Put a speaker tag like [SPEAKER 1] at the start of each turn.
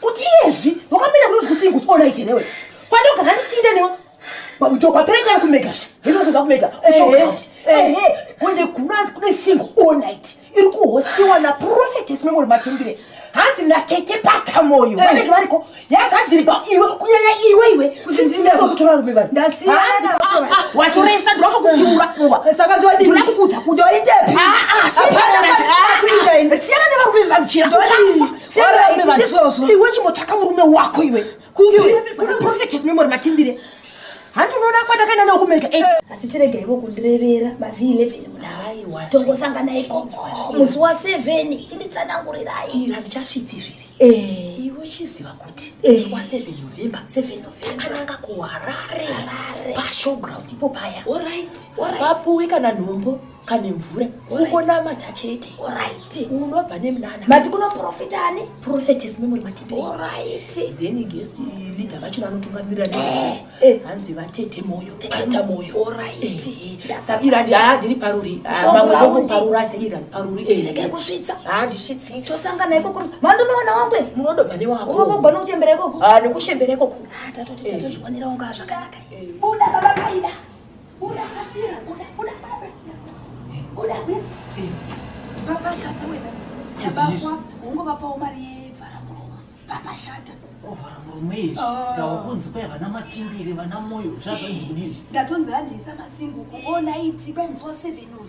[SPEAKER 1] kuti iyezvi wakamira kuti udzikusi ingusi ona ite newe kwadogara ndichinda newe babudo kwapera chari kumega zve hino kuza kumega kunde kunanzi kune single all night iri kuhostiwa naprofetes memori matimbire hanzi natete pasta moyo vanenge variko yagadzirikwa iwe kunyanya iwe iwe kutotora rume vanhu watoresa ndinoto kutsiura saka ndinoda kukudza kudoitepi siyana nevarume vanhu chira iwe chimbotsvaka murume wako iwe kuprofetes memory matimbire hanti unoona kwandakaenda nawo kumereka eh. asi chirega ivo kundirevera mav 11 munaa tongosangana ikoko musi wa 7 chinditsanangurirai handichasvitsi zviri eh. iwe uchiziva kuti eh. musi wa 7 november takananga kuharare pashowground ipo paya vapuwi kana nhombo kane mvura kungonamata chete orit unobva nemunana mati kunoprofita ani profetes memuri matipi orit then guest leader vachona anotungamirira ne eh, eh. hanzi vatete moyo pasta moyo orit eh, sa irandi haa ndiri paruri ah, mamwe ndokuparura asi irandi paruri tirege kusvitsa haa ah, ndisvitsi tosangana ikoko mandonoona wangwe munodobva newako unobogwa nokuchembera ikoko ah, nekuchembera ikoko tatotitazviwanira wanga zvakanaka buda baba paida Buda kasira, buda, buda, buda. Buda, buda. Papa shata wena. Tabakwa, ungo papa umari yevara muroma. Papa shata. Kovara murume izvi. Ah. Tawa kunzi kwaya vana matimbiri, vana moyo, zvazvanzi kudizvi. Ndatonzi handiyisa masingu kuona iti kwai musi wa 7 uyu.